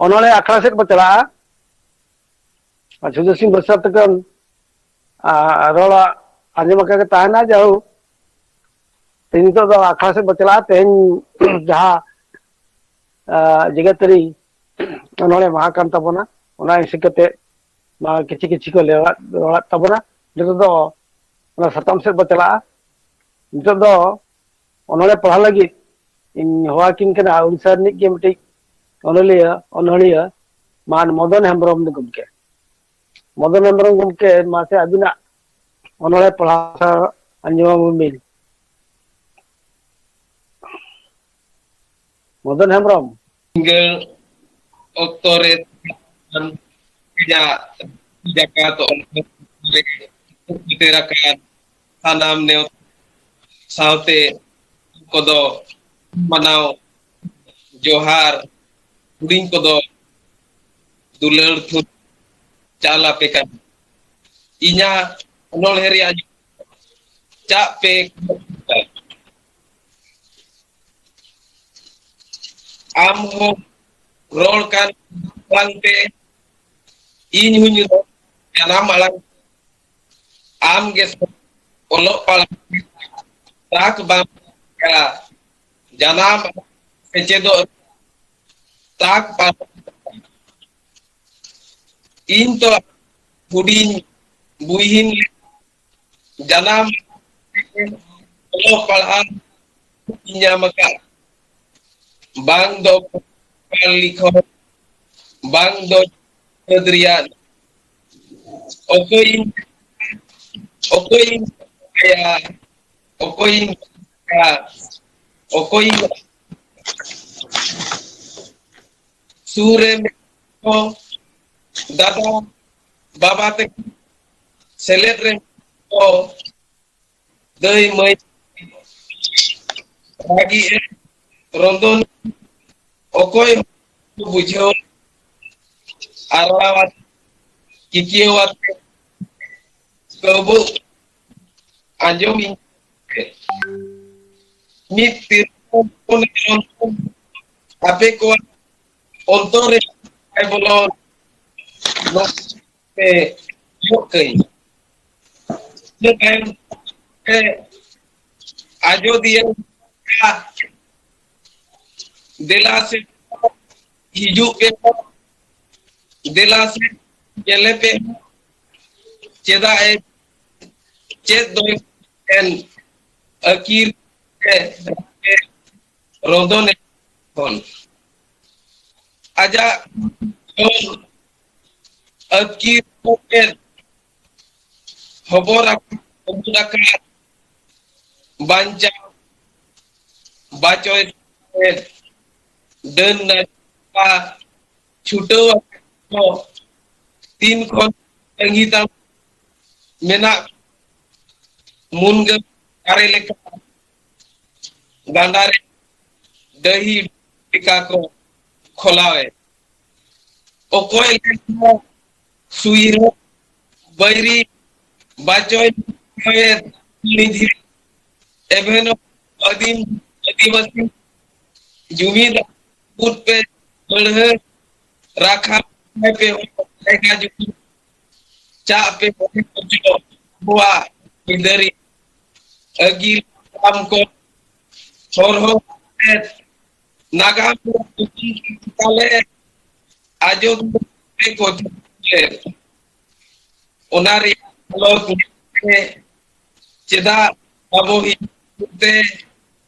ᱚᱱᱚᱲᱦᱮ ᱟᱠᱷᱲᱟ ᱥᱮᱫ ᱠᱚ ᱪᱟᱞᱟᱜᱼᱟ ᱟᱨ ᱡᱷᱩᱞᱟᱹ ᱥᱤᱝ ᱵᱟᱹᱨᱥᱟᱹᱛ ᱛᱮᱠᱚ ᱟᱨ ᱨᱚᱲᱟ ᱟᱸᱡᱚᱢ ᱟᱠᱟ ᱜᱮ ᱛᱟᱦᱮᱱᱟ ᱡᱟᱹᱣ ᱛᱮᱦᱮᱧ ᱱᱤᱛᱚᱜ ᱫᱚ ᱟᱠᱷᱲᱟ ᱥᱮᱫ ᱵᱚ ᱪᱟᱞᱟᱜᱼᱟ ᱛᱮᱦᱮᱧ ᱡᱟᱦᱟᱸ ᱡᱮᱜᱟᱹᱛᱟᱹᱨᱤ ᱚᱱᱚᱲᱦᱮ ᱢᱟᱦᱟ ᱠᱟᱱ ᱛᱟᱵᱚᱱᱟ ᱚᱱᱟ ᱦᱤᱥᱟᱹ ᱠᱟᱛᱮᱫ ᱢᱟ ᱠᱤᱪᱷᱤ ᱠᱤᱪᱷᱤ ᱠᱚ ᱞᱮᱣᱟᱫ ᱨᱚᱲᱟᱫ ᱛᱟᱵᱚᱱᱟ ᱱᱤᱛᱚᱜ ᱫᱚ ᱚᱱᱟ ᱥᱟᱛᱟᱢ ᱥᱮᱫ ᱵᱚ ᱪᱟᱞᱟᱜᱼᱟ ᱱᱤᱛᱚᱜ ᱫᱚ ᱚᱱᱚᱬᱦᱮ ᱯᱟᱲᱦᱟᱣ ᱞᱟᱹᱜᱤᱫ ᱤᱧ ᱦᱚᱦᱚᱣᱟᱠᱤᱱ ᱠᱟᱱᱟ ᱩᱲᱤᱥᱥᱟ ᱨᱤᱱᱤᱡ ᱜᱮ ᱢᱤᱫᱴᱤᱡ ᱚᱱᱚᱞᱤᱭᱟᱹ ᱚᱱᱚᱲᱦᱤᱭᱟᱹ ᱢᱟᱱ ᱢᱚᱫᱚᱱ ᱦᱮᱢᱵᱨᱚᱢ ᱜᱚᱢᱠᱮ ᱢᱚᱫᱚᱱ ᱦᱮᱢᱵᱨᱚᱢ ᱜᱚᱢᱠᱮ ᱢᱟᱥᱮ ᱟᱹᱵᱤᱱᱟᱜ ᱚᱱᱚᱬᱦᱮ ᱯᱟᱲᱦᱟᱣ ᱟᱸᱡᱚᱢᱟᱵᱚᱱ ᱵᱤᱱ ᱢᱚᱫᱚᱱ ᱦᱮᱢᱵᱨᱚᱢ ᱥᱤᱸᱜᱟᱹᱲ ᱚᱠᱛᱚ ᱨᱮ ᱥᱟᱱᱟᱢ ᱱᱮᱣ ᱥᱟᱶᱛᱮ ᱠᱚᱫᱚ ᱢᱟᱱᱟᱣ ᱡᱚᱦᱟᱨ ᱦᱩᱰᱤᱧ ᱠᱚᱫᱚ ᱫᱩᱞᱟᱹᱲ ᱛᱷᱩ ᱪᱟᱞ ᱟᱯᱮ ᱠᱟᱱᱟ ᱤᱧᱟᱹᱜ ᱚᱱᱚᱬᱦᱮ ᱨᱮᱭᱟᱜ ᱪᱟᱜ ᱯᱮ ᱟᱢ ᱦᱚᱸ ᱨᱚᱲ ᱠᱟᱱ ᱟᱲᱟᱝ ᱛᱮ ᱤᱧ ᱦᱚᱸᱧ ᱨᱚᱲ ᱡᱟᱱᱟᱢ ᱟᱲᱟᱝ ᱟᱢ ᱜᱮ ᱚᱞᱚᱜ ᱯᱟᱲᱦᱟᱜ ᱛᱟᱠ ᱵᱟᱢ ᱡᱟᱱᱟᱢ ᱥᱮᱪᱮᱫᱚᱜ ᱛᱟᱠ ᱵᱟᱢ ᱤᱧ ᱫᱚ ᱦᱩᱰᱤᱧ ᱵᱩᱦᱤᱱ ᱡᱟᱱᱟᱢ ᱚᱞᱚᱜ ᱯᱟᱲᱦᱟᱣ ᱧᱟᱢ ᱟᱠᱟᱫ ᱵᱟᱝ ᱫᱚ ᱞᱤᱠᱷᱚᱱ ᱵᱟᱝ ᱫᱚ ᱥᱤᱠᱷᱱᱟᱹᱛ ᱨᱮᱭᱟᱜ ᱚᱠᱚᱭ ᱚᱠᱚᱭ ᱚᱠᱚᱭ ᱚᱠᱚᱭ ᱥᱩᱨ ᱨᱮ ᱫᱟᱫᱟ ᱵᱟᱵᱟ ᱛᱟᱹᱠᱤᱱ ᱥᱮᱞᱮᱫ ᱨᱮ ᱠᱚ ᱫᱟᱹᱭ ᱢᱟᱹᱭ ᱵᱷᱟᱹᱜᱤ ᱮ ᱨᱚᱫᱚᱱ ᱚᱠᱚᱭ ᱵᱩᱡᱷᱟᱹᱣ ᱟᱨᱲᱟᱣ ᱠᱤᱠᱭᱟᱹᱣ ᱟᱛᱮ ᱠᱟᱹᱣᱵᱟᱹᱜ ᱟᱸᱡᱚᱢ ᱤᱧ ᱢᱤᱫ ᱛᱤᱨᱞᱟᱹ ᱟᱯᱮ ᱠᱚᱣᱟᱜ ᱦᱚᱛᱚᱨ ᱨᱮ ᱵᱟᱭ ᱵᱚᱞᱚ ᱟᱡᱚᱫᱤᱭᱟᱹ ᱫᱮᱞᱟ ᱥᱮ ᱦᱤᱡᱩᱜ ᱯᱮ ᱫᱮᱞᱟ ᱥᱮ ᱧᱮᱞᱮ ᱯᱮ ᱪᱮᱫᱟᱜ ᱮ ᱪᱮᱫ ᱫᱚ ᱮᱱ ᱟᱹᱠᱤᱨ ᱛᱮ ᱨᱚᱫᱚᱱᱮ ᱠᱷᱚᱱ ᱟᱡᱟᱜ ᱟᱹᱠᱤᱨ ᱠᱚᱛᱮ ᱦᱚᱵᱚᱨ ᱦᱚᱵᱚᱨ ᱟᱠᱟᱱ ᱵᱟᱧᱪᱟᱣ ᱵᱟᱪᱚᱭ ᱰᱟᱹᱱ ᱱᱟᱭ ᱪᱷᱩᱴᱟᱹᱣ ᱠᱚ ᱛᱤᱱ ᱠᱷᱚᱱ ᱛᱟᱺᱜᱤ ᱛᱟᱢ ᱢᱮᱱᱟᱜ ᱢᱩᱱᱜᱟᱹ ᱫᱟᱨᱮ ᱞᱮᱠᱟ ᱜᱟᱰᱟ ᱨᱮ ᱰᱟᱹᱦᱤ ᱞᱮᱠᱟ ᱠᱚ ᱠᱷᱚᱞᱟᱣᱮ ᱚᱠᱚᱭ ᱞᱮᱠᱟ ᱥᱩᱭᱨᱚ ᱵᱟᱹᱭᱨᱤ ᱵᱟᱪᱚᱭ ᱱᱤᱫᱷᱤ ᱮᱵᱷᱮᱱᱚ ᱟᱹᱫᱤᱢ ᱟᱹᱫᱤᱵᱟᱹᱥᱤ ᱡᱩᱢᱤᱫ ᱵᱩᱫ ᱯᱮ ᱢᱟᱹᱲᱦᱟᱹ ᱨᱟᱠᱷᱟ ᱯᱮ ᱡᱟᱭᱜᱟ ᱡᱩᱢᱤ ᱪᱟᱜ ᱯᱮ ᱟᱵᱚᱣᱟᱜ ᱟᱹᱭᱫᱟᱹᱨᱤ ᱟᱹᱜᱤᱞ ᱦᱟᱯᱲᱟᱢ ᱠᱚ ᱦᱚᱨᱦᱚ ᱠᱟᱛᱮᱫ ᱱᱟᱜᱟᱢ ᱛᱟᱞᱮ ᱟᱡᱚᱫᱤᱭᱟᱹ ᱠᱚ ᱚᱱᱟ ᱨᱮᱭᱟᱜ ᱟᱞᱚ ᱪᱮᱫᱟᱜ ᱟᱵᱚ ᱛᱮ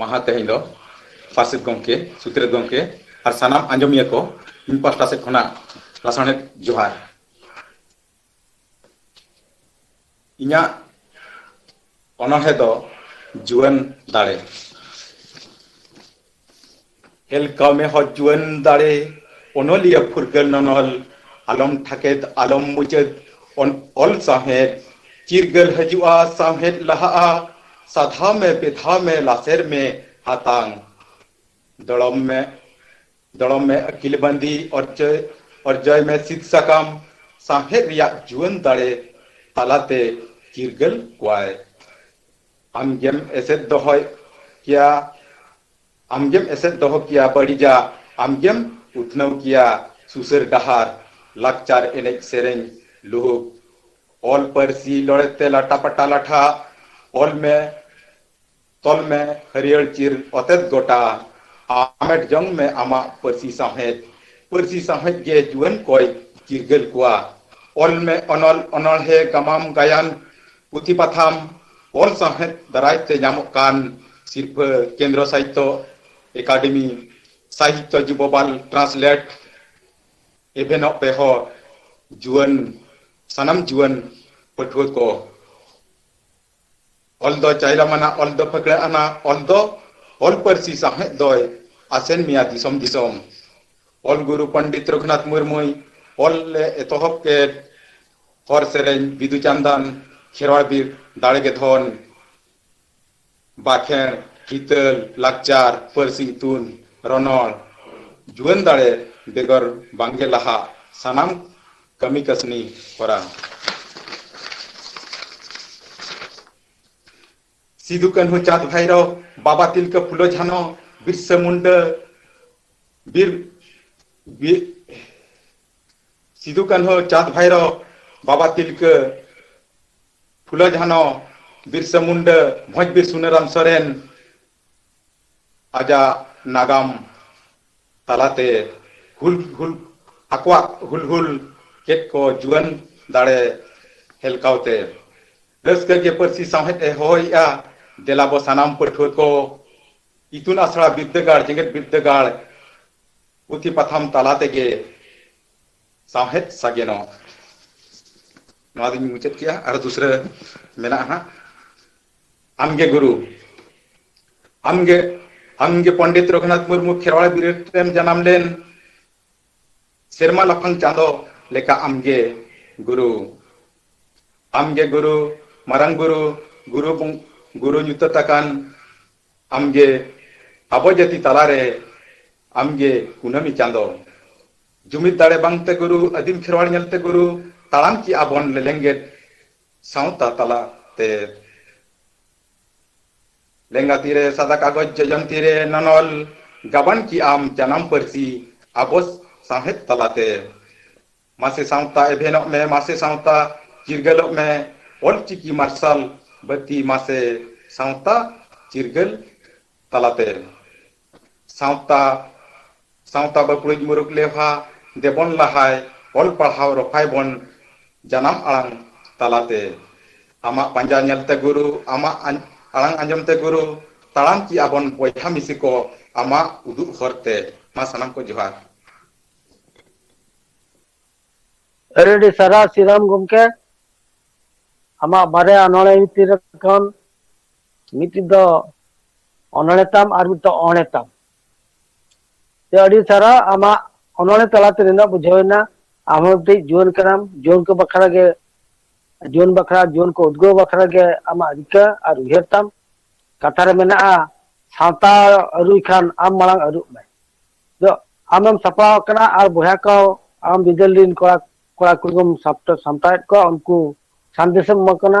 ᱢᱟᱦᱟᱸ ᱛᱮᱦᱮᱧ ᱫᱚ ᱯᱟᱨᱥᱮᱛ ᱜᱚᱢᱠᱮ, ᱥᱩᱛᱨᱮᱛ ᱜᱚᱢᱠᱮ ᱟᱨ ᱥᱟᱱᱟᱢ ᱟᱸᱡᱚᱢᱤᱭᱟᱹ ᱠᱚ ᱤᱧ ᱯᱟᱦᱴᱟ ᱥᱮᱫ ᱠᱷᱚᱱᱟᱜ ᱞᱟᱥᱟᱬᱦᱮᱫ ᱡᱚᱦᱟᱨ᱾ ᱤᱧᱟᱜ ᱚᱱᱚᱬᱦᱮ ᱫᱚ ᱡᱩᱣᱟᱹᱱ ᱫᱟᱲᱮ᱾ ᱦᱮᱞᱠᱟᱣ ᱢᱮ ᱦᱚ ᱡᱩᱣᱟᱹᱱ ᱫᱟᱲᱮ ᱚᱱᱚᱞᱤᱭᱟᱹ ᱯᱷᱩᱨᱜᱟᱹᱞ ᱱᱚᱱᱚᱞ ᱟᱞᱚᱢ ᱴᱷᱟᱠᱮᱫ ᱟᱞᱚᱢ ᱢᱩᱪᱟᱹᱫ ᱚᱱ ᱚᱞ ᱥᱟᱶᱦᱮᱫ ᱪᱤᱨᱜᱟᱹᱞ ᱦᱟᱹᱡᱩᱜᱼᱟ ᱥᱟᱶᱦᱮᱫ ᱞᱟᱦᱟᱜᱼᱟ ᱥᱟᱫᱷᱟᱣ ᱢᱮ ᱵᱮᱫᱷᱟᱣ ᱢᱮ ᱞᱟᱥᱮᱨ ᱢᱮ ᱦᱟᱛᱟᱝ ᱫᱚᱲᱚᱢ ᱢᱮ ᱫᱚᱲᱚᱢ ᱢᱮ ᱟᱹᱠᱤᱞ ᱵᱟᱸᱫᱤ ᱚᱨᱡᱚᱭ ᱚᱨᱡᱚᱭ ᱢᱮ ᱥᱤᱫ ᱥᱟᱠᱟᱢ ᱥᱟᱶᱦᱮᱫ ᱨᱮᱭᱟᱜ ᱡᱩᱣᱟᱹᱱ ᱫᱟᱲᱮ ᱛᱟᱞᱟᱛᱮ ᱪᱤᱨᱜᱟᱹᱞ ᱠᱚᱣᱟᱭ ᱟᱢ ᱜᱮᱢ ᱮᱥᱮᱫ ᱫᱚᱦᱚᱭ ᱠᱮᱭᱟ ᱟᱢᱜᱮᱢ ᱮᱥᱮᱫ ᱫᱚᱦᱚ ᱠᱮᱭᱟ ᱵᱟᱹᱲᱤᱡᱟᱜ ᱟᱢᱜᱮᱢ ᱩᱛᱱᱟᱹᱣ ᱠᱮᱭᱟ ᱥᱩᱥᱟᱹᱨ ᱰᱟᱦᱟᱨ ᱞᱟᱠᱪᱟᱨ ᱮᱱᱮᱡ ᱥᱮᱨᱮᱧ ᱞᱩᱦᱩᱠ ᱚᱞ ᱯᱟᱹᱨᱥᱤ ᱞᱚᱲᱮ ᱛᱮ ᱞᱟᱴᱟ ᱯᱟᱴᱟ ᱞᱟᱴᱷᱟ ᱚᱞ ᱢᱮ ᱛᱚᱞ ᱢᱮ ᱦᱟᱹᱨᱭᱟᱹᱲ ᱪᱤᱨ ᱚᱛᱮᱛ ᱜᱚᱴᱟ ᱟᱢᱮᱴ ᱡᱚᱝ ᱢᱮ ᱟᱢᱟᱜ ᱯᱟᱹᱨᱥᱤ ᱥᱟᱶᱦᱮᱫ ᱯᱟᱹᱨᱥᱤ ᱥᱟᱶᱦᱮᱫ ᱜᱮ ᱡᱩᱣᱟᱹᱱ ᱠᱚᱭ ᱪᱤᱨᱜᱟᱹᱞ ᱠᱚᱣᱟ ᱚᱞ ᱢᱮ ᱚᱱᱚᱞ ᱚᱱᱚᱬᱦᱮ ᱜᱟᱢᱟᱢ ᱜᱟᱭᱟᱱ ᱯᱩᱛᱷᱤ ᱯᱟᱛᱷᱟᱢ ᱚᱞ ᱥᱟᱶᱦᱮᱫ ᱫᱟᱨᱟᱭ ᱛᱮ ᱧᱟᱢᱚᱜ ᱠᱟᱱ ᱥᱤᱨᱯᱷᱟᱹ ᱠᱮᱱᱫᱨᱚ ᱥᱟᱦᱤᱛᱭᱚ ᱮᱠᱟᱰᱮᱢᱤ ᱥᱟᱦᱤᱛᱭᱚ ᱡᱩᱵᱚᱵᱟᱞ ᱴᱨᱟᱱᱥᱞᱮᱴ ᱮᱵᱷᱮᱱᱚᱜ ᱯᱮᱦᱚ ᱡᱩᱣᱟᱹᱱ ᱥᱟᱱᱟᱢ ᱡᱩᱣᱟᱹᱱ ᱯᱟᱹᱴᱷᱩᱣᱟᱹ ᱠᱚ ᱚᱞ ᱫᱚ ᱪᱟᱭᱨᱟᱢᱟᱱᱟ ᱚᱞ ᱫᱚ ᱯᱷᱟᱹᱠᱲᱟᱹ ᱟᱱᱟ ᱚᱞ ᱫᱚ ᱚᱞ ᱯᱟᱹᱨᱥᱤ ᱥᱟᱶᱦᱮᱫ ᱫᱚᱭ ᱟᱥᱮᱱ ᱢᱮᱭᱟ ᱫᱤᱥᱚᱢ ᱫᱤᱥᱚᱢ ᱚᱞ ᱜᱩᱨᱩ ᱯᱚᱱᱰᱤᱛ ᱨᱚᱜᱷᱩᱱᱟᱛᱷ ᱢᱩᱨᱢᱩᱭ ᱚᱞ ᱞᱮ ᱮᱛᱚᱦᱚᱵ ᱠᱮᱫ ᱦᱚᱨ ᱥᱮᱨᱮᱧ ᱵᱤᱫᱩ ᱪᱟᱱᱫᱟᱱ ᱠᱷᱮᱨᱣᱟᱲ ᱵᱤᱨ ᱫᱟᱲᱮ ᱜᱮ ᱫᱷᱚᱱ ᱵᱟᱠᱷᱮᱬ ᱦᱤᱛᱟᱹᱞ ᱞᱟᱠᱪᱟᱨ ᱯᱟᱹᱨᱥᱤ ᱤᱛᱩᱱ ᱨᱚᱱᱚᱲ ᱡᱩᱣᱟᱹᱱ ᱫᱟᱲᱮ ᱵᱮᱜᱚᱨ ᱵᱟᱝ ᱜᱮ ᱞᱟᱦᱟᱜ ᱥᱟᱱᱟᱢ ᱠᱟᱹᱢᱤ ᱠᱟᱹᱥᱱᱤ ᱦᱚᱨᱟ᱾ ᱥᱤᱫᱩ ᱠᱟᱹᱱᱦᱩ ᱪᱟᱸᱫᱽ ᱵᱷᱟᱭᱨᱚ ᱵᱟᱵᱟ ᱛᱤᱞᱠᱟᱹ ᱯᱷᱩᱞᱚ ᱡᱷᱟᱱᱚ ᱵᱤᱨᱥᱟᱹ ᱢᱩᱱᱰᱟᱹ ᱵᱤᱨ ᱵᱤᱨ ᱥᱤᱫᱩ ᱠᱟᱹᱱᱦᱩ ᱪᱟᱸᱫᱽ ᱵᱷᱟᱭᱨᱚ ᱵᱟᱵᱟ ᱛᱤᱞᱠᱟᱹ ᱯᱷᱩᱞᱚ ᱡᱷᱟᱱᱚ ᱵᱤᱨᱥᱟᱹ ᱢᱩᱱᱰᱟᱹ ᱵᱷᱚᱸᱡᱽ ᱵᱤᱨ ᱥᱩᱱᱟᱹᱨᱟᱢ ᱥᱚᱨᱮᱱ ᱟᱡᱟᱜ ᱱᱟᱜᱟᱢ ᱛᱟᱞᱟᱛᱮ ᱦᱩᱞ ᱦᱩᱞ ᱟᱠᱚᱣᱟᱜ ᱦᱩᱞ ᱦᱩᱞ ᱠᱮᱫ ᱠᱚ ᱡᱩᱣᱟᱹᱱ ᱫᱟᱲᱮ ᱦᱮᱞᱠᱟᱣᱛᱮ ᱨᱟᱹᱥᱠᱟᱹ ᱜᱮ ᱯᱟᱹᱨᱥᱤ ᱥᱟᱶᱦᱮᱫ ᱮ ᱦᱚᱦᱚᱭᱮᱜᱼᱟ ᱫᱮᱞᱟ ᱵᱚ ᱥᱟᱱᱟᱢ ᱯᱟᱹᱴᱷᱩᱣᱟᱹ ᱠᱚ ᱤᱛᱩᱱ ᱟᱥᱲᱟ ᱵᱤᱨᱫᱟᱹᱜᱟᱲ ᱡᱮᱜᱮᱛ ᱵᱤᱨᱫᱟᱹᱜᱟᱲ ᱯᱩᱛᱷᱤ ᱯᱟᱛᱷᱟᱢ ᱛᱟᱞᱟ ᱛᱮᱜᱮ ᱥᱟᱶᱦᱮᱫ ᱥᱟᱜᱮᱱᱚᱜ ᱱᱚᱣᱟ ᱫᱚᱧ ᱢᱩᱪᱟᱹᱫ ᱠᱮᱜᱼᱟ ᱟᱨ ᱫᱩᱥᱨᱟᱹ ᱢᱮᱱᱟᱜᱼᱟ ᱦᱟᱸᱜ ᱟᱢᱜᱮ ᱜᱩᱨᱩ ᱟᱢᱜᱮ ᱟᱢᱜᱮ ᱯᱚᱱᱰᱤᱛ ᱨᱚᱜᱷᱩᱱᱟᱛᱷ ᱢᱩᱨᱢᱩ ᱠᱷᱮᱨᱣᱟᱲ ᱵᱤᱨᱟᱹᱴ ᱨᱮᱢ ᱡᱟᱱᱟᱢ ᱞᱮᱱ ᱥᱮᱨᱢᱟ ᱞᱟᱯᱷᱟᱝ ᱪᱟᱸᱫᱚ ᱞᱮᱠᱟ ᱟᱢᱜᱮ ᱜᱩᱨᱩ ᱟᱢᱜᱮ ᱜᱩᱨᱩ ᱢᱟᱨᱟᱝ ᱵᱩᱨᱩ ᱜᱩᱨᱩ ᱜᱩᱨᱩ ᱧᱩᱛᱟᱹᱛ ᱟᱠᱟᱱ ᱟᱢᱜᱮ ᱟᱵᱚ ᱡᱟᱹᱛᱤ ᱛᱟᱞᱟᱨᱮ ᱟᱢᱜᱮ ᱠᱩᱱᱟᱹᱢᱤ ᱪᱟᱸᱫᱚ ᱡᱩᱢᱤᱫ ᱫᱟᱲᱮ ᱵᱟᱝᱛᱮ ᱜᱩᱨᱩ ᱟᱹᱫᱤᱢ ᱠᱷᱮᱨᱣᱟᱲ ᱧᱮᱞᱛᱮ ᱜᱩᱨᱩ ᱛᱟᱲᱟᱢ ᱠᱮᱜ ᱟᱵᱚᱱ ᱞᱮᱞᱮᱝᱜᱮᱫ ᱥᱟᱶᱛᱟ ᱛᱟᱞᱟᱛᱮ ᱞᱮᱸᱜᱟᱛᱤ ᱨᱮ ᱥᱟᱫᱟ ᱠᱟᱜᱚᱡᱽ ᱡᱚᱡᱚᱢ ᱛᱤ ᱨᱮ ᱱᱚᱱᱚᱞ ᱜᱟᱵᱟᱱ ᱠᱤ ᱟᱢ ᱡᱟᱱᱟᱢ ᱯᱟᱹᱨᱥᱤ ᱟᱵᱚ ᱥᱟᱶᱦᱮᱫ ᱛᱟᱞᱟ ᱛᱮ ᱢᱟᱥᱮ ᱥᱟᱶᱛᱟ ᱮᱵᱷᱮᱱᱚᱜ ᱢᱮ ᱢᱟᱥᱮ ᱥᱟᱶᱛᱟ ᱪᱤᱨᱜᱟᱹᱞᱚᱜ ᱢᱮ ᱚᱞ ᱪᱤᱠᱤ ᱢᱟᱨᱥᱟᱞ ᱵᱟᱹᱛᱤ ᱢᱟᱥᱮ ᱥᱟᱶᱛᱟ ᱪᱤᱨᱜᱟᱹᱞ ᱛᱟᱞᱟ ᱛᱮ ᱥᱟᱶᱛᱟ ᱥᱟᱶᱛᱟ ᱵᱟᱹᱠᱲᱩᱡ ᱢᱩᱨᱩᱠ ᱞᱮᱣᱦᱟ ᱫᱮᱵᱚᱱ ᱞᱟᱦᱟᱭ ᱚᱞ ᱯᱟᱲᱦᱟᱣ ᱨᱚᱯᱷᱟᱭ ᱵᱚᱱ ᱡᱟᱱᱟᱢ ᱟᱲᱟᱝ ᱛᱟᱞᱟ ᱛᱮ ᱟᱢᱟᱜ ᱯᱟᱸᱡᱟ ᱧᱮᱞ ᱛᱮ ᱜᱩᱨᱩ ᱟᱢᱟᱜ ᱟᱲᱟᱝ ᱟᱸᱡᱚᱢ ᱛᱮ ᱜᱩᱨᱩ ᱛᱟᱲᱟᱢ ᱪᱮᱫ ᱟᱵᱚᱱ ᱵᱚᱭᱦᱟ ᱢᱤᱥᱤ ᱠᱚ ᱟᱢᱟᱜ ᱩᱫᱩᱜ ᱦᱚᱨ ᱛᱮ ᱢᱟ ᱥᱟᱱᱟᱢ ᱠᱚ ᱡᱚᱦᱟᱨ᱾ ᱟᱹᱰᱤ ᱟᱹᱰᱤ ᱥᱟᱨᱦᱟᱣ ᱥᱨᱤᱨᱟᱢ ᱜᱚᱢᱠᱮ ᱟᱢᱟᱜ ᱵᱟᱨᱭᱟ ᱚᱱᱚᱬᱦᱮ ᱵᱷᱤᱛᱤᱨ ᱠᱷᱚᱱ ᱢᱤᱫᱴᱤᱡ ᱫᱚ ᱚᱱᱚᱬᱮ ᱛᱟᱢ ᱟᱨ ᱢᱤᱫᱴᱤᱡ ᱚᱬᱮ ᱛᱟᱢ ᱛᱮ ᱟᱹᱰᱤ ᱥᱟᱨᱟ ᱟᱢᱟᱜ ᱚᱱᱚᱬᱮ ᱛᱟᱞᱟᱛᱮ ᱱᱤᱱᱟᱹᱜ ᱵᱩᱡᱷᱟᱹᱣᱮᱱᱟ ᱟᱢ ᱦᱚᱸ ᱢᱤᱫᱴᱤᱡ ᱡᱩᱣᱟᱹᱱ ᱠᱟᱱᱟᱢ ᱡᱩᱣᱟᱹᱱ ᱠᱚ ᱵᱟᱠᱷᱨᱟ ᱜᱮ ᱡᱩᱣᱟᱹᱱ ᱵᱟᱠᱷᱨᱟ ᱡᱩᱣᱟᱹᱱ ᱠᱚ ᱩᱫᱽᱜᱟᱹᱣ ᱵᱟᱠᱷᱨᱟ ᱜᱮ ᱟᱢᱟᱜ ᱨᱤᱠᱟᱹ ᱟᱨ ᱩᱭᱦᱟᱹᱨ ᱛᱟᱢ ᱠᱟᱛᱷᱟ ᱨᱮ ᱢᱮᱱᱟᱜᱼᱟ ᱥᱟᱶᱛᱟ ᱟᱹᱨᱩᱭ ᱠᱷᱟᱱ ᱟᱢ ᱢᱟᱲᱟᱝ ᱟᱹᱨᱩᱜ ᱢᱮ ᱫᱚ ᱟᱢᱮᱢ ᱥᱟᱯᱲᱟᱣ ᱟᱠᱟᱱᱟ ᱟᱨ ᱵᱚᱭᱦᱟ ᱠᱚ ᱟᱢ ᱵᱤᱫᱟᱹᱞ ᱨᱤᱱ ᱠᱚᱲᱟ ᱠᱚᱲᱟ ᱠᱩᱲᱤ ᱠᱚᱢ ᱥᱟᱢᱴᱟᱣᱮᱫ ᱠᱚᱣᱟ ᱩᱱᱠᱩ ᱥᱟᱸᱫᱮᱥᱮᱢ ᱮᱢᱟ ᱠᱟᱱᱟ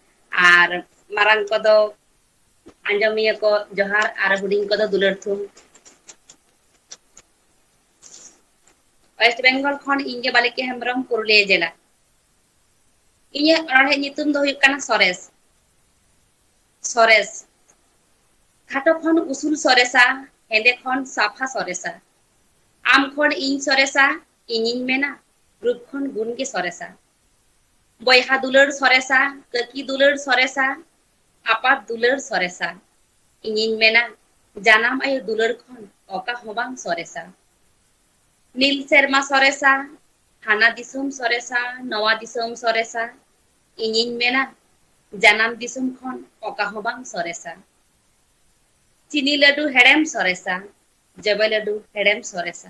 ᱟᱨ ᱢᱟᱨᱟᱝ ᱠᱚᱫᱚ ᱟᱸᱡᱚᱢᱤᱭᱟᱹ ᱠᱚ ᱡᱚᱦᱟᱨ ᱟᱨ ᱦᱩᱰᱤᱧ ᱠᱚᱫᱚ ᱫᱩᱞᱟᱹᱲ ᱛᱷᱩᱢ ᱳᱭᱮᱥᱴ ᱵᱮᱝᱜᱚᱞ ᱠᱷᱚᱱ ᱤᱧ ᱜᱮ ᱵᱟᱞᱤᱠᱟ ᱦᱮᱢᱵᱨᱚᱢ ᱯᱩᱨᱩᱞᱤᱭᱟᱹ ᱡᱮᱞᱟ ᱤᱧᱟᱹᱜ ᱚᱱᱚᱲᱦᱮᱸᱜ ᱧᱩᱛᱩᱢ ᱫᱚ ᱦᱩᱭᱩᱜ ᱠᱟᱱᱟ ᱥᱚᱨᱮᱥ ᱥᱚᱨᱮᱥ ᱠᱷᱟᱴᱚ ᱠᱷᱚᱱ ᱩᱥᱩᱞ ᱥᱚᱨᱮᱥᱟ ᱦᱮᱸᱫᱮ ᱠᱷᱚᱱ ᱥᱟᱯᱷᱟ ᱥᱚᱨᱮᱥᱟ ᱟᱢ ᱠᱷᱚᱱ ᱤᱧ ᱥᱚᱨᱮᱥᱟ ᱤᱧᱤᱧ ᱢᱮᱱᱟ ᱨᱩᱯ ᱠᱷᱚᱱ ᱜᱩᱱ ᱜᱮ ᱥᱚᱨᱮᱥᱟ ᱵᱚᱭᱦᱟ ᱫᱩᱞᱟᱹᱲ ᱥᱚᱨᱮᱥᱟ ᱠᱟᱹᱠᱤ ᱫᱩᱞᱟᱹᱲ ᱥᱚᱨᱮᱥᱟ ᱟᱯᱟᱛ ᱫᱩᱞᱟᱹᱲ ᱥᱚᱨᱮᱥᱟ ᱤᱧᱤᱧ ᱢᱮᱱᱟ ᱡᱟᱱᱟᱢ ᱟᱭᱳ ᱫᱩᱞᱟᱹᱲ ᱠᱷᱚᱱ ᱚᱠᱟ ᱦᱚᱸ ᱵᱟᱝ ᱥᱚᱨᱮᱥᱟ ᱱᱤᱞ ᱥᱮᱨᱢᱟ ᱥᱚᱨᱮᱥᱟ ᱦᱟᱱᱟ ᱫᱤᱥᱚᱢ ᱥᱚᱨᱮᱥᱟ ᱱᱚᱣᱟ ᱫᱤᱥᱚᱢ ᱥᱚᱨᱮᱥᱟ ᱤᱧᱤᱧ ᱢᱮᱱᱟ ᱡᱟᱱᱟᱢ ᱫᱤᱥᱚᱢ ᱠᱷᱚᱱ ᱚᱠᱟ ᱦᱚᱸ ᱵᱟᱝ ᱥᱚᱨᱮᱥᱟ ᱪᱤᱱᱤ ᱞᱟᱹᱰᱩ ᱦᱮᱲᱮᱢ ᱥᱚᱨᱮᱥᱟ ᱡᱚᱵᱮ ᱞᱟᱹᱰᱩ ᱦᱮᱲᱮᱢ ᱥᱚᱨᱮᱥᱟ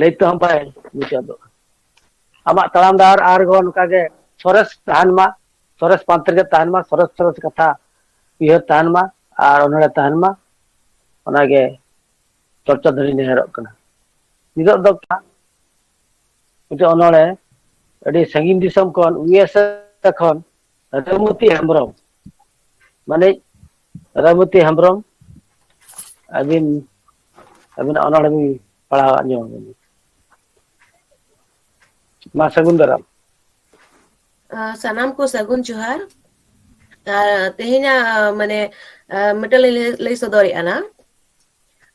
ᱞᱟᱹᱭ ᱛᱮᱦᱚᱸ ᱵᱟᱭ ᱢᱩᱪᱟᱹᱫᱚᱜᱼᱟ ᱟᱢᱟᱜ ᱛᱟᱲᱟᱢ ᱰᱟᱦᱟᱨ ᱟᱨᱦᱚᱸ ᱱᱚᱝᱠᱟ ᱜᱮ ᱥᱚᱨᱮᱥ ᱛᱟᱦᱮᱱ ᱢᱟ ᱥᱚᱨᱮᱥ ᱯᱟᱱᱛᱮ ᱨᱮᱜᱮ ᱛᱟᱦᱮᱱ ᱢᱟ ᱥᱚᱨᱮᱥ ᱥᱚᱨᱮᱥ ᱠᱟᱛᱷᱟ ᱩᱭᱦᱟᱹᱨ ᱛᱟᱦᱮᱱ ᱢᱟ ᱟᱨ ᱚᱱᱚᱲᱦᱮ ᱛᱟᱦᱮᱱ ᱢᱟ ᱚᱱᱟᱜᱮ ᱪᱚᱨᱪᱟ ᱫᱷᱟᱹᱨᱤ ᱱᱮᱦᱚᱨᱚᱜ ᱠᱟᱱᱟ ᱱᱤᱛᱚᱜ ᱫᱚ ᱢᱤᱫᱴᱮᱱ ᱚᱱᱚᱲᱦᱮ ᱟᱹᱰᱤ ᱥᱟᱺᱜᱤᱧ ᱫᱤᱥᱚᱢ ᱠᱷᱚᱱ ᱤᱭᱩ ᱮᱥ ᱮ ᱠᱷᱚᱱ ᱨᱟᱫᱷᱩᱢᱚᱛᱤ ᱦᱮᱢᱵᱨᱚᱢ ᱢᱟᱱᱮ ᱨᱟᱢᱚᱛᱤ ᱦᱮᱢᱵᱨᱚᱢ ᱟᱹᱵᱤᱱ ᱟᱹᱵᱤᱱᱟᱜ ᱚᱱᱚᱲᱦᱮ ᱵᱤᱱ ᱯᱟᱲᱦᱟᱣ ᱟᱸᱡᱚᱢ ᱟᱵᱤᱱ ᱢᱟ ᱥᱟᱹᱜᱩᱱ ᱫᱟᱨᱟᱢ ᱥᱟᱱᱟᱢ ᱠᱚ ᱥᱟᱹᱜᱩᱱ ᱡᱚᱦᱟᱨ ᱛᱮᱦᱮᱧᱟᱜ ᱢᱟᱱᱮ ᱢᱤᱫᱴᱮᱱ ᱞᱤᱧ ᱞᱟᱹᱭ ᱥᱚᱫᱚᱨᱮᱫᱼᱟ ᱱᱟᱜ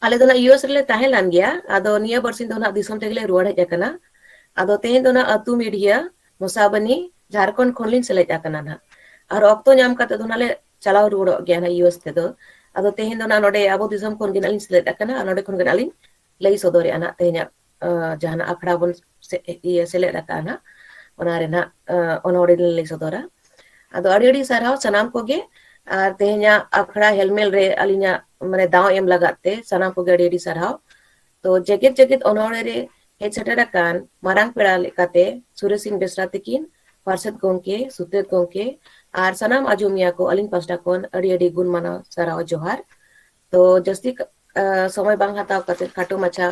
ᱟᱞᱮ ᱫᱚ ᱱᱟᱜ ᱤᱭᱩ ᱮᱥ ᱨᱮᱞᱮ ᱛᱟᱦᱮᱸ ᱞᱮᱱ ᱜᱮᱭᱟ ᱟᱫᱚ ᱱᱤᱭᱟᱹ ᱵᱟᱨ ᱥᱤᱧ ᱫᱚ ᱱᱟᱜ ᱫᱤᱥᱚᱢ ᱛᱮᱜᱮᱞᱮ ᱨᱩᱣᱟᱹᱲ ᱦᱮᱡ ᱟᱠᱟᱱᱟ᱾ ᱟᱫᱚ ᱛᱮᱦᱮᱧ ᱫᱚ ᱱᱟᱜ ᱟᱹᱛᱩ ᱢᱤᱰᱤᱭᱟ ᱢᱚᱥᱟᱵᱚᱱᱤ ᱡᱷᱟᱨᱠᱷᱚᱸᱰ ᱠᱷᱚᱱ ᱞᱤᱧ ᱥᱮᱞᱮᱫ ᱟᱠᱟᱱᱟ ᱱᱟᱜ᱾ ᱟᱨ ᱚᱠᱛᱚ ᱧᱟᱢ ᱠᱟᱛᱮ ᱫᱚ ᱱᱟᱜ ᱞᱮ ᱪᱟᱞᱟᱣ ᱨᱩᱣᱟᱹᱲᱚᱜ ᱜᱮᱭᱟ ᱱᱟᱜ ᱤᱭᱩ ᱮᱥ ᱛᱮᱫᱚ᱾ ᱟᱫᱚ ᱛᱮᱦᱮᱧ ᱫᱚ ᱱᱟᱜ ᱱᱚᱰᱮ ᱟᱵᱚ ᱫᱤᱥᱚᱢ ᱠᱷᱚᱱ ᱜᱮ ᱱᱟᱜ ᱞᱤᱧ ᱥᱮᱞᱮᱫ ᱟᱠᱟᱱᱟ ᱟᱨ ᱱᱚᱰᱮ ᱠᱷᱚᱱ ᱜᱮ ᱱᱟᱜ ᱞᱤᱧ ᱞᱟᱹᱭ ᱥᱚᱫᱚᱨᱮᱜᱼᱟ ᱱᱟᱜ ᱛᱮᱦᱮᱧᱟᱜ ᱡᱟᱦᱟᱱᱟᱜ ᱟᱠᱷᱲᱟ ᱵᱚᱱ ᱤᱭᱟᱹ ᱥᱮᱞᱮᱫ ᱟᱠᱟᱫᱼᱟ ᱱᱟᱜ ᱚᱱᱟ ᱨᱮᱱᱟᱜ ᱚᱱᱚᱲᱦᱮ ᱞᱟᱹᱭ ᱥᱚᱫᱚᱨᱟ ᱟᱫᱚ ᱟᱹᱰᱤ ᱟᱹᱰᱤ ᱥᱟᱨᱦᱟᱣ ᱥᱟᱱᱟᱢ ᱠᱚᱜᱮ ᱟᱨ ᱛᱮᱦᱮᱧᱟᱜ ᱟᱠᱷᱲᱟ ᱦᱮᱞᱢᱮᱞ ᱨᱮ ᱟᱹᱞᱤᱧᱟᱜ ᱢᱟᱱᱮ ᱫᱟᱣ ᱮᱢ ᱞᱟᱜᱟᱫ ᱛᱮ ᱥᱟᱱᱟᱢ ᱠᱚᱜᱮ ᱟᱹᱰᱤ ᱟᱹᱰᱤ ᱥᱟᱨᱦᱟᱣ ᱛᱚ ᱡᱮᱜᱮᱛ ᱡᱮᱜᱮᱛ ᱚᱱᱚᱲᱦᱮ ᱨᱮ ᱦᱮᱡ ᱥᱮᱴᱮᱨ ᱟᱠᱟᱱ ᱢᱟᱨᱟᱝ ᱯᱮᱲᱟ ᱞᱮᱠᱟᱛᱮ ᱥᱩᱨᱮᱥ ᱥᱤᱝ ᱵᱮᱥᱨᱟ ᱛᱤᱠᱤᱱ ᱯᱟᱨᱥᱮᱛ ᱜᱚᱢᱠᱮ ᱥᱩᱛᱨᱮᱛ ᱜᱚᱢᱠᱮ ᱟᱨ ᱥᱟᱱᱟᱢ ᱟᱸᱡᱚᱢᱤᱭᱟᱹ ᱠᱚ ᱟᱹᱞᱤᱧ ᱯᱟᱥᱴᱟ ᱠᱷᱚᱱ ᱟᱹᱰᱤ ᱟᱹᱰᱤ ᱜᱩᱱ ᱢᱟᱱᱟᱣ ᱥᱟᱨᱦᱟᱣ ᱡᱚᱦᱟᱨ ᱛᱚ ᱡᱟᱹᱥᱛᱤ ᱥᱚᱢᱚᱭ ᱵᱟᱝ ᱦᱟᱛᱟᱣ ᱠᱟᱛᱮ ᱠᱷᱟᱴᱚ ᱢᱟᱪᱷᱟ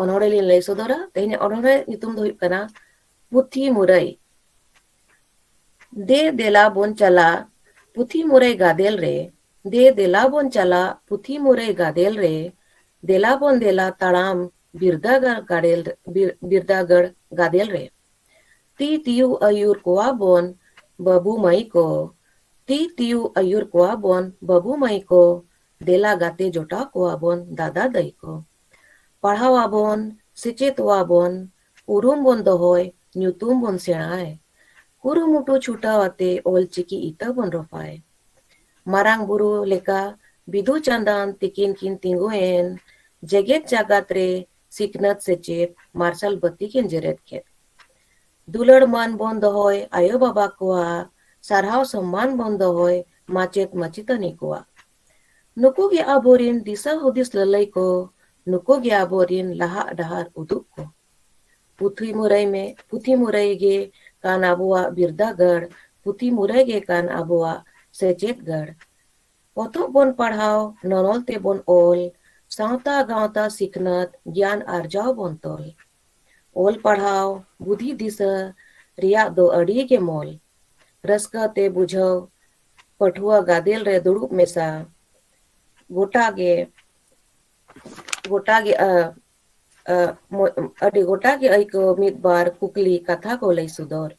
ᱚᱱᱚᱲᱮ ᱞᱤᱧ ᱞᱟᱹᱭ ᱥᱚᱫᱚᱨᱟ ᱛᱮᱦᱮᱧ ᱚᱱᱚᱲᱮ ᱧᱩᱛᱩᱢ ᱫᱚ ᱦᱩᱭᱩᱜ ᱠᱟᱱᱟ ᱯᱩᱛᱷᱤ ᱢᱩᱨᱟᱹᱭ ᱫᱮ ᱫᱮᱞᱟ ᱵᱚᱱ ᱪᱟᱞᱟ ᱯᱩᱛᱷᱤ ᱢᱩᱨᱟᱹᱭ ᱜᱟᱫᱮᱞ ᱨᱮ ᱫᱮ ᱫᱮᱞᱟ ᱵᱚᱱ ᱪᱟᱞᱟ ᱯᱩᱛᱷᱤ ᱢᱩᱨᱟᱹᱭ ᱜᱟᱫᱮᱞ ᱨᱮ ᱫᱮᱞᱟ ᱵᱚᱱ ᱫᱮᱞᱟ ᱛᱟᱲᱟᱢ ᱵᱤᱨᱫᱟᱹᱜᱟᱲ ᱜᱟᱲᱮᱞ ᱵᱤᱨᱫᱟᱹᱜᱟᱲ ᱜᱟᱫᱮᱞ ᱨᱮ ᱛᱤ ᱛᱤᱭᱩ ᱟᱹᱭᱩᱨ ᱠᱚᱣᱟ ᱵᱚᱱ ᱵᱟᱹᱵᱩ ᱢᱟᱹᱭ ᱠᱚ ᱛᱤ ᱛᱤᱭᱩ ᱟᱹᱭᱩᱨ ᱠᱚᱣᱟ ᱵᱚᱱ ᱵᱟᱹᱵᱩ ᱢᱟᱹᱭ ᱠᱚ ᱫᱮᱞᱟ ᱜᱟᱛᱮ ᱡᱚᱴᱟᱣ ᱠᱚᱣᱟ ᱵᱚᱱ ᱫᱟᱫᱟ ᱫᱟᱹᱭ ᱠᱚ ᱯᱟᱲᱦᱟᱣ ᱟᱵᱚᱱ ᱥᱮᱪᱮᱫᱚᱜᱼᱟ ᱵᱚᱱ ᱩᱨᱩᱢ ᱵᱚᱱ ᱫᱚᱦᱚᱭ ᱧᱩᱛᱩᱢ ᱵᱚᱱ ᱥᱮᱬᱟᱭ ᱠᱩᱨᱩᱢᱩᱴᱩ ᱪᱷᱩᱴᱟᱣ ᱟᱛᱮ ᱚᱞ ᱪᱤᱠᱤ ᱤᱛᱟᱹ ᱵᱚᱱ ᱨᱚᱯᱷᱟᱭ ᱢᱟᱨᱟᱝ ᱵᱩᱨᱩ ᱞᱮᱠᱟ ᱵᱤᱫᱩ ᱪᱟᱸᱫᱟᱱ ᱛᱤᱠᱤᱱ ᱠᱤᱱ ᱛᱤᱸᱜᱩ ᱮᱱ ᱡᱮᱜᱮᱛ ᱡᱟᱜᱟᱛ ᱨᱮ ᱥᱤᱠᱷᱱᱟᱹᱛ ᱥᱮᱪᱮᱫ ᱢᱟᱨᱥᱟᱞ ᱵᱟᱹᱛᱤ ᱠᱤᱱ ᱡᱮᱨᱮᱫ ᱠᱮᱫ᱾ ᱫᱩᱞᱟᱹᱲ ᱢᱟᱹᱱ ᱵᱚᱱ ᱫᱚᱦᱚᱭ ᱟᱭᱳ ᱵᱟᱵᱟ ᱠᱚᱣᱟᱜ, ᱥᱟᱨᱦᱟᱣ ᱥᱚᱢᱢᱟᱱ ᱵᱚᱱ ᱫᱚᱦᱚᱭ ᱢᱟᱪᱮᱛ ᱢᱟᱪᱮᱛᱟᱹᱱᱤ ᱠᱚᱣᱟᱜ᱾ ᱱᱩᱠᱩ ᱜᱮ ᱟᱵᱚ ᱨᱤᱱ ᱫᱤᱥᱟᱹ ᱦᱩᱫᱤᱥ ᱞᱟᱹᱞᱟᱹᱭ ᱠᱚ, ᱱᱩᱠᱩ ᱜᱮ ᱟᱵᱚ ᱨᱤᱱ ᱞᱟᱦᱟᱜ ᱰᱟᱦᱟᱨ ᱩᱫᱩᱜ ᱠᱚ᱾ ᱯᱩᱛᱷᱤ ᱢᱩᱨᱟᱹᱭ ᱢᱮ ᱯᱩᱛᱷᱤ ᱢᱩᱨᱟᱹᱭ ᱜᱮ ᱠᱟᱱ ᱟᱵᱚᱣᱟᱜ ᱵᱤᱨᱫᱟᱹᱜᱟᱲ, ᱯᱩᱛᱷᱤ ᱢᱩᱨᱟᱹᱭ ᱜᱮ ᱠᱟᱱ ᱟᱵᱚᱣᱟᱜ ᱥᱮᱪᱮᱫ ᱜᱟᱲ᱾ ᱯᱚᱛᱚᱵ ᱵᱚᱱ ᱯᱟᱲᱦᱟᱣ, ᱱᱚᱱᱚᱞ ᱛᱮ ᱵᱚᱱ ᱚᱞ, ᱥᱟᱶᱛᱟ ᱜᱟᱶᱛᱟ ᱥᱤᱠᱷᱱᱟᱹᱛ ᱜᱮᱭᱟᱱ ᱟᱨᱡᱟᱣ ᱵᱚᱱ ᱛᱚᱞ᱾ ᱚᱞ ᱯᱟᱲᱦᱟᱣ ᱵᱩᱫᱷᱤ ᱫᱤᱥᱟᱹ ᱨᱮᱭᱟᱜ ᱫᱚ ᱟᱹᱰᱤ ᱜᱮ ᱢᱚᱞ᱾ ᱨᱟᱹᱥᱠᱟᱹ ᱛᱮ ᱵᱩᱡᱷᱟᱹᱣ ᱯᱟᱹᱴᱷᱩᱣᱟᱹ ᱜᱟᱫᱮᱞ ᱨᱮ ᱫᱩᱲᱩᱵ ᱢᱮᱥᱟ᱾ ᱜᱚᱴᱟ ᱜᱮ ᱜᱚᱴᱟ ᱜᱮ ᱟ᱾ ᱟᱹᱰᱤ ᱜᱚᱴᱟ ᱜᱮ ᱟᱹᱭᱠᱟᱹᱣ ᱢᱤᱫ ᱵᱟᱨ ᱠᱩᱠᱞᱤ ᱠᱟᱛᱷᱟ ᱠᱚ ᱞᱟᱹᱭ ᱥᱚᱫᱚᱨ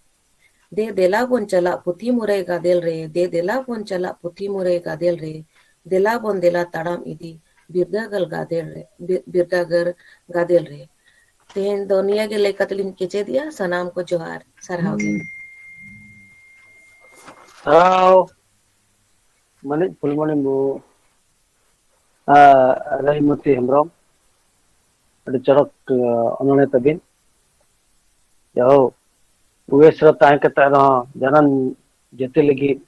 ᱫᱮ ᱫᱮᱞᱟ ᱵᱚᱱ ᱪᱟᱞᱟᱜ ᱯᱩᱛᱷᱤ ᱢᱩᱨᱟᱹᱭ ᱜᱟᱫᱮᱞ ᱨᱮ ᱫᱮ ᱫᱮᱞᱟ ᱵᱚᱱ ᱪᱟᱞᱟᱜ ᱯᱩᱛᱷᱤ ᱢᱩᱨᱟᱹᱭ ᱜᱟᱫᱮᱞ ᱨᱮ ᱫᱮᱞᱟ ᱵᱚᱱ ᱫᱮᱞᱟ ᱛᱟᱲᱟᱢ ᱤᱫᱤ ᱵᱤᱨᱫᱟᱹᱜᱟᱲ ᱜᱟᱫᱮᱞ ᱨᱮ ᱵᱤᱨᱫᱟᱹᱜᱟᱲ ᱜᱟᱫᱮᱞ ᱨᱮ ᱛᱮᱦᱮᱧ ᱫᱚ ᱱᱤᱭᱟᱹ ᱜᱮ ᱞᱟᱹᱭ ᱠᱟᱛᱮ ᱞᱤᱧ ᱠᱮᱪᱮᱫᱮᱜᱼᱟ ᱥᱟᱱᱟᱢ ᱠᱚ ᱡᱚᱦᱟᱨ ᱥᱟᱨᱦᱟᱣ ᱜᱮ ᱥᱟᱨᱦᱟᱣ ᱢᱟᱹᱱᱤᱡ ᱯᱷᱩᱞᱢᱚᱱᱤ ᱢᱩᱨᱢᱩ ᱨᱟᱭᱢᱚᱛᱤ ᱦᱮᱢᱵᱨᱚᱢ ᱟᱹᱰᱤ ᱪᱚᱨᱚᱠ ᱚᱱᱚᱬᱦᱮ ᱛᱟᱹᱵᱤᱱ ᱡᱟᱦᱳ ᱩᱭᱮᱥ ᱨᱮ ᱛᱟᱦᱮᱸ ᱠᱟᱛᱮ ᱨᱮᱦᱚᱸ ᱡᱟᱱᱟᱢ ᱡᱟᱹᱛᱤ ᱞᱟᱹᱜᱤᱫ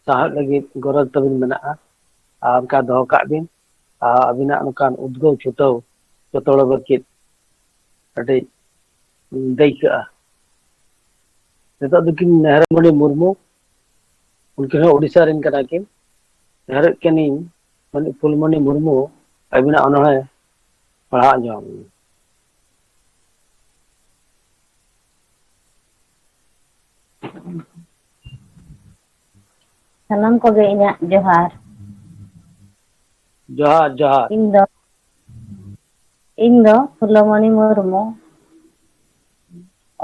ᱥᱟᱶᱦᱮᱫ ᱞᱟᱹᱜᱤᱫ ᱜᱚᱨᱚᱡᱽ ᱛᱟᱹᱵᱤᱱ ᱢᱮᱱᱟᱜᱼᱟ ᱟᱨ ᱚᱱᱠᱟ ᱫᱚᱦᱚ ᱠᱟᱜ ᱵᱤᱱ ᱟᱨ ᱟᱹᱵᱤᱱᱟᱜ ᱱᱚᱝᱠᱟᱱ ᱩᱫᱽᱜᱟᱹᱣ ᱪᱷᱩᱴᱟᱹᱣ ᱡᱚᱛᱚ ᱦᱚᱲ ᱞᱟᱹᱜᱤᱫ ᱟᱹᱰᱤ ᱫᱟᱹᱭᱠᱟᱹᱜᱼᱟ ᱱᱤᱛᱚᱜ ᱫᱚᱠᱤᱱ ᱢᱮᱦᱨᱟᱢᱚᱱᱤ ᱢᱩᱨᱢᱩ ᱩᱱᱠᱤᱱ ᱦᱚᱸ ᱩᱰᱤᱥᱥᱟ ᱨᱮᱱ ᱠᱟᱱᱟ ᱠᱤᱱ ᱱᱮᱦᱚᱨᱚᱜ ᱠᱟᱹᱱᱟᱹᱧ ᱢᱟᱱᱮ ᱯᱷᱩᱞᱢᱚᱱᱤ ᱢᱩᱨᱢᱩ ᱟᱹᱵᱤᱱᱟᱜ ᱚᱱᱚᱲᱦᱮ ᱯᱟᱲᱦᱟᱣ ᱟᱸᱡᱚᱢ ᱥᱟᱱᱟᱢ ᱠᱚᱜᱮ ᱤᱧᱟᱹᱜ ᱡᱚᱦᱟᱨ ᱡᱚᱦᱟᱨ ᱡᱚᱦᱟᱨ ᱤᱧ ᱫᱚ ᱤᱧ ᱫᱚ ᱯᱷᱩᱞᱚᱢᱚᱱᱤ ᱢᱩᱨᱢᱩ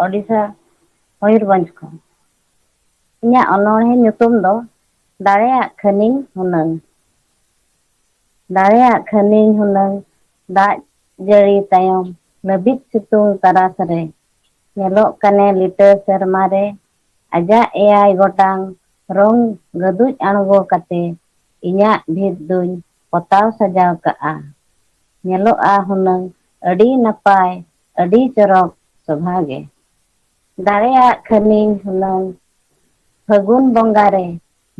ᱳᱰᱤᱥᱟ ᱢᱚᱭᱩᱨᱵᱷᱚᱸᱡᱽ ᱠᱷᱚᱱ ᱤᱧᱟᱜ ᱚᱱᱚᱬᱦᱮ ᱧᱩᱛᱩᱢ ᱫᱚ ᱫᱟᱲᱮᱭᱟᱜ ᱠᱷᱟᱹᱱᱤᱧ ᱦᱩᱱᱟᱹᱝ ᱫᱟᱲᱮᱭᱟᱜ ᱠᱷᱟᱹᱱᱤᱧ ᱦᱩᱱᱟᱹᱝ ᱫᱟᱜ ᱡᱟᱹᱲᱤ ᱛᱟᱭᱚᱢ ᱞᱟᱹᱵᱤᱫ ᱥᱤᱛᱩᱝ ᱛᱟᱨᱟᱥ ᱨᱮ ᱧᱮᱞᱚᱜ ᱠᱟᱱᱮ ᱞᱤᱴᱟᱹ ᱥᱮᱨᱢᱟ ᱨᱮ ᱟᱡᱟᱜ ᱮᱭᱟᱭ ᱜᱚᱴᱟᱝ ᱨᱚᱝ ᱜᱟᱹᱫᱩᱡ ᱟᱬᱜᱚ ᱠᱟᱛᱮ ᱤᱧᱟᱜ ᱵᱷᱤᱛ ᱫᱩᱧ ᱯᱚᱛᱟᱣ ᱥᱟᱡᱟᱣ ᱠᱟᱜᱼᱟ ᱧᱮᱞᱚᱜᱼᱟ ᱦᱩᱱᱟᱹᱝ ᱟᱹᱰᱤ ᱱᱟᱯᱟᱭ ᱟᱹᱰᱤ ᱪᱚᱨᱚᱠ ᱥᱚᱵᱷᱟ ᱜᱮ ᱫᱟᱲᱮᱭᱟᱜ ᱠᱷᱟᱹᱱᱤᱧ ᱦᱩᱱᱟᱹᱝ ᱯᱷᱟᱹᱜᱩᱱ ᱵᱚᱸᱜᱟ ᱨᱮ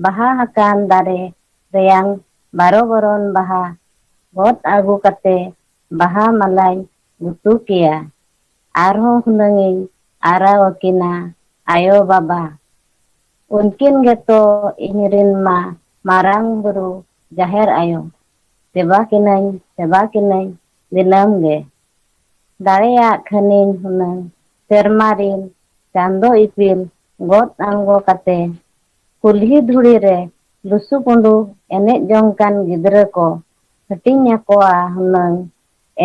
ᱵᱟᱦᱟ ᱦᱟᱠᱟᱱ ᱫᱟᱨᱮ ᱨᱮᱭᱟᱝ ᱵᱟᱨᱚ ᱵᱚᱨᱚᱱ ᱵᱟᱦᱟ ᱜᱚᱫ ᱟᱹᱜᱩ ᱠᱟᱛᱮ ᱵᱟᱦᱟ ᱢᱟᱞᱟᱧ ᱜᱩᱛᱩ ᱠᱮᱭᱟ᱾ ᱟᱨᱦᱚᱸ ᱦᱩᱱᱟᱹᱝ ᱤᱧ ᱟᱨᱟᱣ ᱟᱹᱠᱤᱱᱟ ᱟᱭᱳ ᱵᱟᱵᱟ᱾ ᱩᱱᱠᱤᱱ ᱜᱮᱛᱚ ᱤᱧ ᱨᱤᱱ ᱢᱟ ᱢᱟᱨᱟᱝ ᱵᱩᱨᱩ ᱡᱟᱦᱮᱨ ᱟᱭᱳ᱾ ᱥᱮᱵᱟ ᱠᱤᱱᱟᱹᱧ ᱥᱮᱵᱟ ᱠᱤᱱᱟᱹᱧ ᱫᱤᱱᱟᱹᱢ ᱜᱮ᱾ ᱫᱟᱲᱮᱭᱟᱜ ᱠᱷᱟᱹᱱᱤᱧ ᱦᱩᱱᱟᱹᱝ ᱥᱮᱨᱢᱟ ᱨᱤᱱ ᱪᱟᱸᱫᱚ ᱤᱯᱤᱞ ᱜᱚᱫ ᱟᱬᱜᱚ ᱠᱟᱛᱮ ᱠᱩᱞᱦᱤ ᱫᱷᱩᱲᱤ ᱨᱮ ᱞᱩᱥᱩ ᱯᱩᱸᱰᱩ ᱮᱱᱮᱡ ᱡᱚᱝ ᱠᱟᱱ ᱜᱤᱫᱽᱨᱟᱹ ᱠᱚ ᱦᱟᱹᱴᱤᱧ ᱟᱠᱚᱣᱟ ᱦᱩᱱᱟᱹᱝ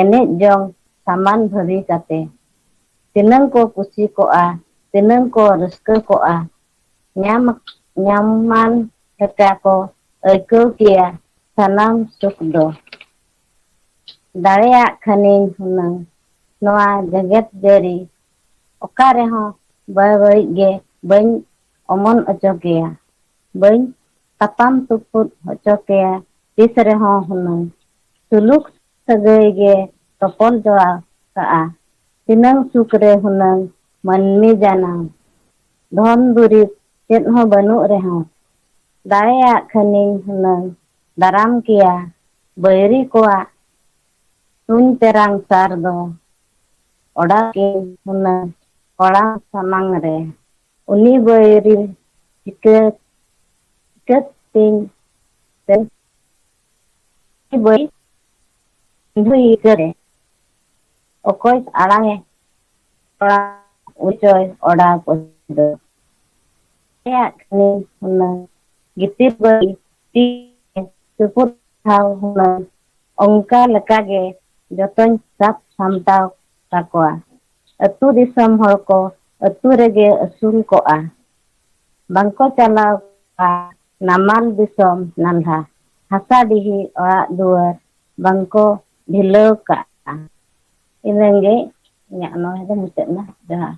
ᱮᱱᱮᱡ ᱡᱚᱝ ᱥᱟᱢᱟᱱ ᱵᱷᱟᱹᱨᱤ ᱠᱟᱛᱮ᱾ ᱛᱤᱱᱟᱹᱝ ᱠᱚ ᱠᱩᱥᱤ ᱠᱚᱜᱼᱟ ᱛᱤᱱᱟᱹᱝ ᱠᱚ ᱨᱟᱹᱥᱠᱟᱹ ᱠᱚᱜᱼᱟ ᱧᱟᱢ ᱧᱟᱢᱟᱱ ᱞᱮᱠᱟ ᱠᱚ ᱟᱹᱭᱠᱟᱹᱣ ᱠᱮᱭᱟ ᱥᱟᱱᱟᱢ ᱥᱩᱠ ᱫᱚ᱾ ᱫᱟᱲᱮᱭᱟᱜ ᱠᱷᱟᱹᱱᱤᱧ ᱦᱩᱱᱟᱹᱝ ᱱᱚᱣᱟ ᱡᱮᱜᱮᱛ ᱡᱟᱹᱨᱤ ᱚᱠᱟ ᱨᱮᱦᱚᱸ ᱵᱟᱹᱵᱟᱹᱲᱤᱡ ᱜᱮ ᱵᱟᱹᱧ ᱚᱢᱚᱱ ᱚᱪᱚ ᱠᱮᱭᱟ ᱵᱟᱹᱧ ᱛᱟᱯᱟᱢ ᱛᱩᱯᱩᱫ ᱦᱚᱪᱚ ᱠᱮᱭᱟ ᱛᱤᱥ ᱨᱮᱦᱚᱸ ᱦᱩᱱᱟᱹᱝ ᱥᱩᱞᱩᱠ ᱥᱟᱹᱜᱟᱹᱭ ᱜᱮ ᱛᱚᱯᱚᱞ ᱡᱚᱲᱟᱣ ᱠᱟᱜᱼᱟ ᱛᱤᱱᱟᱹᱝ ᱥᱩᱠ ᱨᱮ ᱦᱩᱱᱟᱹᱝ ᱢᱟᱹᱱᱢᱤ ᱡᱟᱱᱟᱢ ᱫᱷᱚᱱ ᱫᱩᱨᱤᱵᱽ ᱪᱮᱫ ᱦᱚᱸ ᱵᱟᱹᱱᱩᱜ ᱨᱮᱦᱚᱸ ᱫᱟᱲᱮᱭᱟᱜ ᱠᱷᱟᱹᱱᱤᱧ ᱦᱩᱱᱟᱹᱝ ᱫᱟᱨᱟᱢ ᱠᱮᱭᱟ ᱵᱟᱹᱭᱨᱤ ᱠᱚᱣᱟᱜ ᱛᱩᱧ ᱛᱮᱨᱟᱝ ᱥᱟᱨ ᱫᱚ ᱚᱰᱟᱣ ᱠᱮᱭᱟᱹᱧ ᱦᱩᱱᱟᱹᱝ ᱠᱚᱲᱟᱢ ᱥᱟᱢᱟᱝ ᱨᱮ ᱩᱱᱤ ᱵᱟᱹᱭᱨᱤ ᱪᱤᱠᱟᱹ ᱪᱤᱠᱟᱹᱛ ᱛᱤᱧ ᱛᱮᱧ ᱵᱟᱹᱭ ᱵᱟᱹᱭ ᱠᱟᱨᱮ ᱚᱠᱚᱭ ᱟᱲᱟᱝ ᱮ ᱠᱚᱲᱟ ᱩᱱᱤ ᱪᱚᱭ ᱚᱰᱟᱣ ᱠᱚ ᱫᱚ ᱟᱞᱮᱭᱟᱜ ᱠᱷᱟᱹᱞᱤ ᱦᱩᱱᱟᱹᱝ ᱜᱤᱛᱤᱞ ᱵᱟᱹᱞᱤ ᱛᱤ ᱛᱩᱯᱩᱫ ᱴᱷᱟᱶ ᱦᱩᱱᱟᱹᱝ ᱚᱱᱠᱟ ᱞᱮᱠᱟ ᱜᱮ ᱡᱚᱛᱚᱧ ᱥᱟᱵ ᱥᱟᱢᱴᱟᱣ ᱠᱟᱠᱚᱣᱟ ᱟᱹᱛᱩ ᱫᱤᱥᱚᱢ ᱦᱚᱲ ᱠᱚ ᱟᱹᱛᱩ ᱨᱮᱜᱮ ᱟᱹᱥᱩᱞ ᱠᱚᱜᱼᱟ ᱵᱟᱝᱠᱚ ᱪᱟᱞᱟᱣ ᱠᱚᱜᱼᱟ ᱱᱟᱢᱟᱞ ᱫᱤᱥᱚᱢ ᱱᱟᱞᱦᱟ ᱦᱟᱥᱟ ᱰᱤᱦᱤ ᱚᱲᱟᱜ ᱫᱩᱣᱟᱹᱨ ᱵᱟᱝᱠᱚ ᱰᱷᱤᱞᱟᱹᱣ ᱠᱟᱜᱼᱟ ᱤᱱᱟᱹᱜᱮ ᱤᱧᱟᱹᱜ ᱚᱱᱚᱬᱦᱮ ᱫᱚ ᱢᱩᱪᱟᱹᱫ ᱮᱱᱟ ᱡᱚᱦᱟᱨ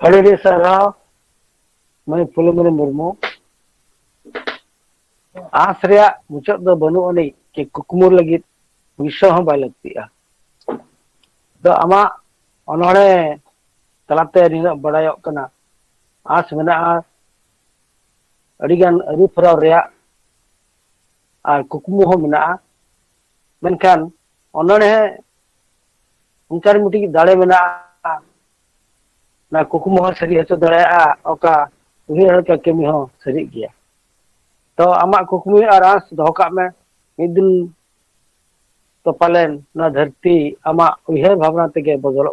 ᱟᱹᱰᱤ ᱟᱹᱰᱤ ᱥᱟᱨᱦᱟᱣ ᱢᱟᱹᱭ ᱯᱷᱩᱞᱚᱢᱚᱱᱤ ᱢᱩᱨᱢᱩ ᱟᱸᱥ ᱨᱮᱭᱟᱜ ᱢᱩᱪᱟᱹᱫ ᱫᱚ ᱵᱟᱹᱱᱩᱜ ᱟᱹᱱᱤᱡ ᱪᱮ ᱠᱩᱠᱢᱩ ᱞᱟᱹᱜᱤᱫ ᱯᱩᱭᱥᱟᱹ ᱦᱚᱸ ᱵᱟᱭ ᱞᱟᱹᱠᱛᱤᱜᱼᱟ ᱫᱚ ᱟᱢᱟᱜ ᱚᱱᱚᱲᱦᱮ ᱛᱟᱞᱟᱛᱮ ᱱᱤᱱᱟᱹᱜ ᱵᱟᱲᱟᱭᱚᱜ ᱠᱟᱱᱟ ᱟᱸᱥ ᱢᱮᱱᱟᱜᱼᱟ ᱟᱹᱰᱤᱜᱟᱱ ᱟᱹᱨᱩ ᱯᱷᱮᱨᱟᱣ ᱨᱮᱭᱟᱜ ᱟᱨ ᱠᱩᱠᱢᱩ ᱦᱚᱸ ᱢᱮᱱᱟᱜᱼᱟ ᱢᱮᱱᱠᱷᱟᱱ ᱚᱱᱚᱬᱦᱮ ᱚᱱᱠᱟᱱ ᱢᱤᱫᱴᱤᱡ ᱫᱟᱲᱮ ᱢᱮᱱᱟᱜᱼᱟ ᱚᱱᱟ ᱠᱩᱠᱢᱩ ᱦᱚᱸ ᱥᱟᱹᱨᱤ ᱦᱚᱪᱚ ᱫᱟᱲᱮᱭᱟᱜᱼᱟ ᱚᱠᱟ ᱩᱭᱦᱟᱹᱨ ᱦᱚᱪᱚ ᱠᱟᱹᱢᱤ ᱦᱚᱸ ᱥᱟᱹᱨᱤᱜ ᱜᱮᱭᱟ ᱛᱚ ᱟᱢᱟᱜ ᱠᱩᱠᱢᱩ ᱟᱨ ᱟᱸᱥ ᱫᱚᱦᱚ ᱠᱟᱜ ᱢᱮ ᱢᱤᱫ ᱫᱤᱱ ᱛᱚ ᱯᱟᱞᱮᱱ ᱱᱚᱣᱟ ᱫᱷᱟᱹᱨᱛᱤ ᱟᱢᱟᱜ ᱩᱭᱦᱟᱹᱨ ᱵᱷᱟᱵᱽᱱᱟ ᱛᱮᱜᱮ ᱵᱚᱫᱚᱞᱚᱜ